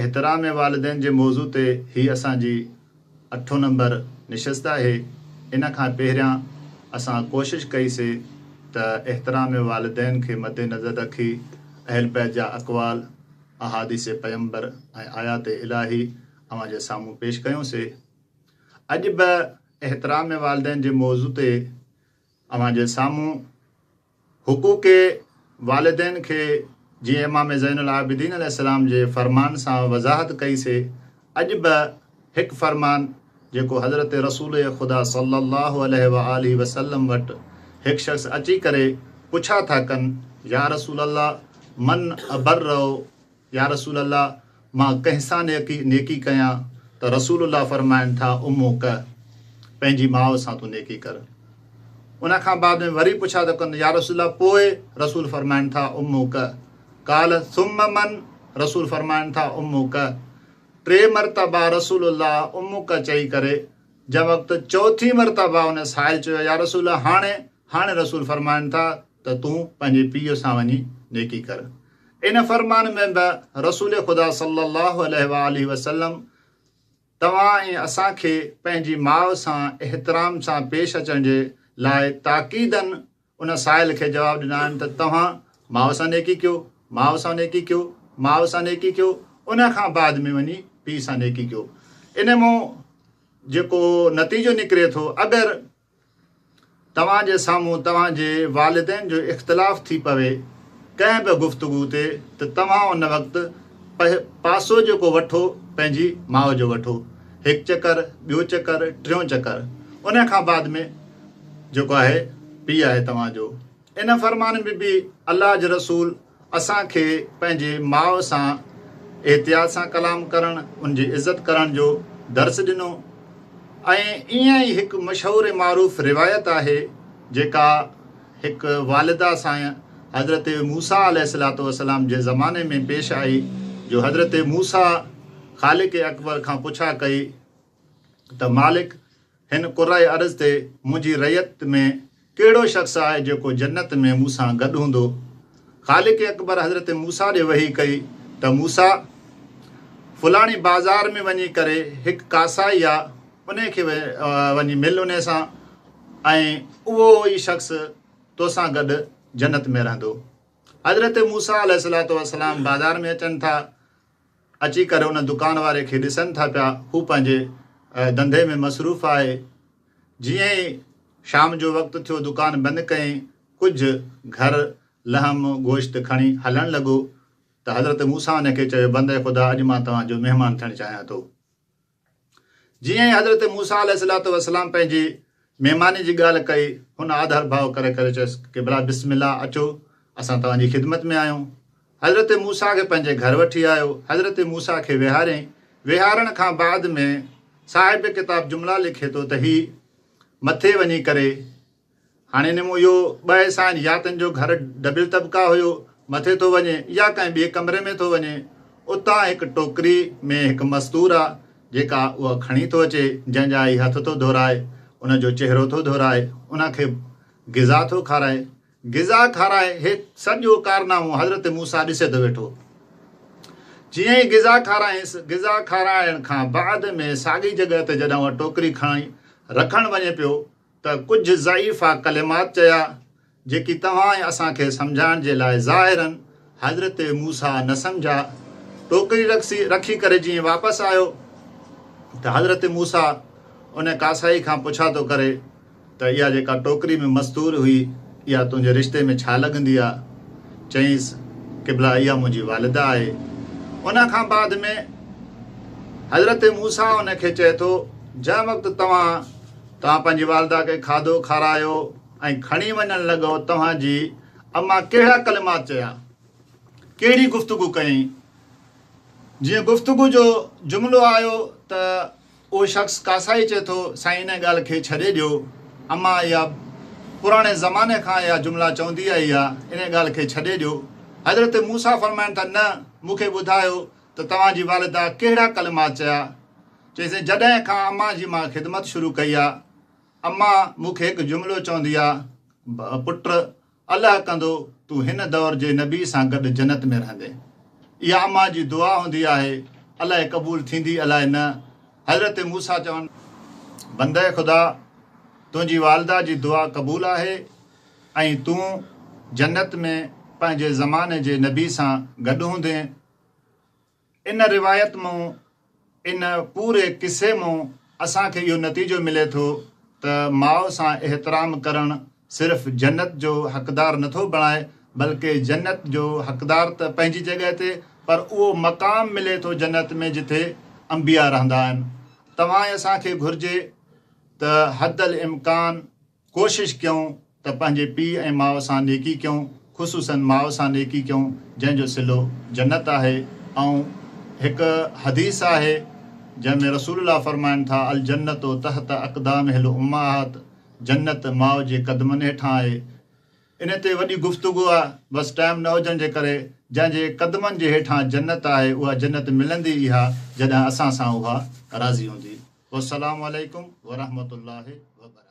احترام والدين جي موضوع تي هي اسان جي اٺون نمبر نشست آهي، ان کان پهريان اسان ڪوشش ڪئي سي ته احترام والدين کي مد نظر رکي اهل بيت جا اقوال، احاديث پيمبر ۽ آيات الاهي اوهان جي سامهون پيش ڪيون سي. اڄ به احترام والدين جي موضوع تي اوهان جي سامهون. حقوق والدين کي جيئن امام زين العابدين عليه السلام جي فرمان سان وضاحت ڪئي سي اڄ به هڪ فرمان جيڪو حضرت رسول خدا صلّي الله عليه واٰله وسلّم وٽ هڪ شخص اچي ڪري پڇا ٿا ڪن يا رسول الله من ابرّ يا رسول الله! مان ڪنهن سان نيڪي ڪيان ته رسول الله فرمائن ٿا، امك، پنهنجي ماء سان تون نيڪي ڪر. ان کان بعد ۾ وري پڇا ته ڪن، يا رسول الله! پوء؟ رسول فرمائن ٿا، امڪ. قال، ثم من؟ رسول فرمائن ٿا، امڪ. ٽي مرتبا رسول الله امڪ چئي ڪري جنهن وقت چوٿين مرتبا ان سائل چيو، يا رسول الله! هاڻي؟ هاڻي رسول فرمائن ٿا ته تون پنهنجي پيء سان وڃي نيڪي ڪر. ان فرمان ۾ به رسول خدا صلّي الله عليه واٰله وسلّم توهان ۽ اسان کي پنهنجي ماء سان احترام سان پيش اچڻ جي لاء تاڪيدن ان سائل کي جواب ڏنا آهن ته توهان ماء سان نيڪي ڪيو، ماء سان نيڪي ڪيو، ماء سان نيڪي ڪيو، ان کان بعد ۾ وڃي پيء سان نيڪي ڪيو. ان مان جيڪو نتيجو نڪري ٿو اگر توهان جي سامهون توهان جي والدين جو اختلاف ٿي پوي ڪنهن به گفتگو تي ته توهان ان وقت پاسو جيڪو وٺو پنهنجي ماء جو وٺو هڪ چڪر ٻيو چڪر ٽيون چڪر ان کان بعد ۾ جيڪو آهي پي آهي توهان جو ان فرمان ۾ به الله جي رسول اسان کي پنهنجي ماء سان احتياط سان ڪلام ڪرڻ، ان جي عزت ڪرڻ جو درس ڏنو ۽ ائين ئي هڪ مشهور معروف روايت آهي جيڪا هڪ والده سان حضرت موسيٰ عليه الصلوة والسلام جي زماني ۾ پيش آئي جو حضرت موسيٰ خالق اڪبر کان پڇا ڪئي ته مالڪ! هن قرئه عرض تي منهنجي رعيت ۾ ڪهڙو شخص آهي جيڪو جنت ۾ مون سان گڏ هوندو؟ خالق اڪبر حضرت موسيٰ ڏي وحي ڪئي ته موسيٰ! فلاڻي بازار ۾ وڃي ڪري هڪ ڪاسائي آ انهي کي وڃي مل انهي سان ۽ اهو ئي شخص توسان گڏ جنت ۾ رهندو. حضرت موسيٰ عليه السلام بازار ۾ اچن ٿا. اچي ڪري ان دڪان واري کي ڏسن ٿا پيا هو پنهنجي ڌنڌي ۾ مصروف آهي جيئن ئي شام جو وقت ٿيو دڪان بند ڪئين ڪجهه گهر لحم گوشت کڻي هلڻ لڳو ته حضرت موسيٰ ان کي چيو بنده خدا اڄ مان توهان جو مهمان ٿيڻ چاهيان ٿو. جيئن ئي حضرت موسيٰ عليه الصلوة والسلام پنهنجي مهماني جي ڳالهه ڪئي، هن آڌر ڀاء ڪري ڪري چيس، قبلا بسم الله اچو اسان توهان جي خدمت ۾ آهيون. حضرت موسيٰ کي پنهنجي گهر وٺي آيو، حضرت موسيٰ کي ويهاريائين، ويهارڻ کان بعد ۾ صاحب ڪتاب جملا لکي ٿو ته هي مٿي وڃي ڪري هاڻي نمو اهو ٻه حصا آهن يا تن جو گهر ڊبل طبقه هيو مٿي ٿو وڃي يا ڪنهن ٻئي ڪمري ۾ ٿو وڃي اتان هڪ ٽوڪري ۾ هڪ مستور آ جيڪا اها کڻي ٿو اچي جنهن جا هي هٿ ٿو ڌورائي ان جو چهرو ٿو ڌورائي ان کي غذا ٿو کارائي غذا کارائي هي سڄو ڪارنامو حضرت موسا ڏسي ٿو ويٺو جيئن ئي غذا کارائيس غذا کارائڻ کان بعد ۾ ساڳي جڳهه تي جڏهن اها ٽوڪري کڻي رکڻ وڃي پيو ته ڪجهه ضعيفا ڪلمات چيا، جيڪي توهان ۽ اسان کي سمجهائڻ جي لاء ظاهراً حضرت موسيٰ نه سمجهيا. ٽوڪري رکي ڪري جيئن واپس آيو ته حضرت موسيٰ ان ڪاسائي کان پڇا ٿو ڪري ته اها جيڪا ٽوڪري ۾ مستور هئي، اها تنهنجي رشتي ۾ ڇا لڳندي آ؟ چيائينس، قبله اها منهنجي والده آهي. ان کان بعد ۾ حضرت موسيٰ ان کي چئي ٿو، جنهن وقت توهان. توهان پنهنجي والده کي کاڌو کارايو ۽ کڻي وڃڻ لڳو، توهان جي امان ڪهڙا ڪلمات چيا، ڪهڙي گفتگو ڪيائين؟ جيئن گفتگو جو جملو آيو ته اهو شخص ڪاسائي چئي ٿو، سائين انهيء ڳالهه کي ڇڏي ڏيو، امان اها پراڻي زماني کان اها جملا چوندي آئي آهي، انهيء ڳالهه کي ڇڏي ڏيو. حضرت موسيٰ فرمائن ٿا، نه، مون کي ٻڌايو ته توهان جي والده ڪهڙا ڪلمات چيا، چيسين جڏهن کان امان جي مان خدمت شروع ڪئي آ امان مون کي هڪ جملو چوندي آ پٽ الله ڪندو تون هن دور جي نبي سان گڏ جنت ۾ رهندين اها امان جي دعا هوندي آهي الائي قبول ٿيندي الائي نه حضرت موسيٰ چون بندي خدا تنهنجي والده جي دعا قبول آهي ۽ تون جنت ۾ پنهنجي زماني جي نبي سان گڏ هوندين ان روايت مون ان پوري قصي مون اسان کي اهو نتيجو ملي ٿو ته ماء سان احترام ڪرڻ صرف جنت جو حقدار نه ٿو بڻائي بلڪه جنت جو حقدار ته پنهنجي جڳهه تي پر اهو مقام ملي ٿو جنت ۾ جٿي انبياء رهندا آهن توهان ۽ اسان کي گهرجي ته حد الامڪان ڪوشش ڪيون ته پنهنجي پيء ۽ ماء سان نيڪي ڪيون، خصوصاً ماء سان نيڪي ڪيون، جنهن جو صلو جنت آهي ۽ هڪ حديث آهي جنهن ۾ رسول الله فرمائن ٿا، الجنة تحت اقدام الامهات، جنت ماء جي قدمن هيٺان آهي. انهي تي وڏي گفتگو آهي، بس ٽائيم نه هجڻ جي ڪري، جنهن جي قدمن جي هيٺان جنت آهي، اها جنت ملندي اها جڏهن اسان سان اها راضي هوندي. والسلام عليڪم ورحمة الله وبرڪاته.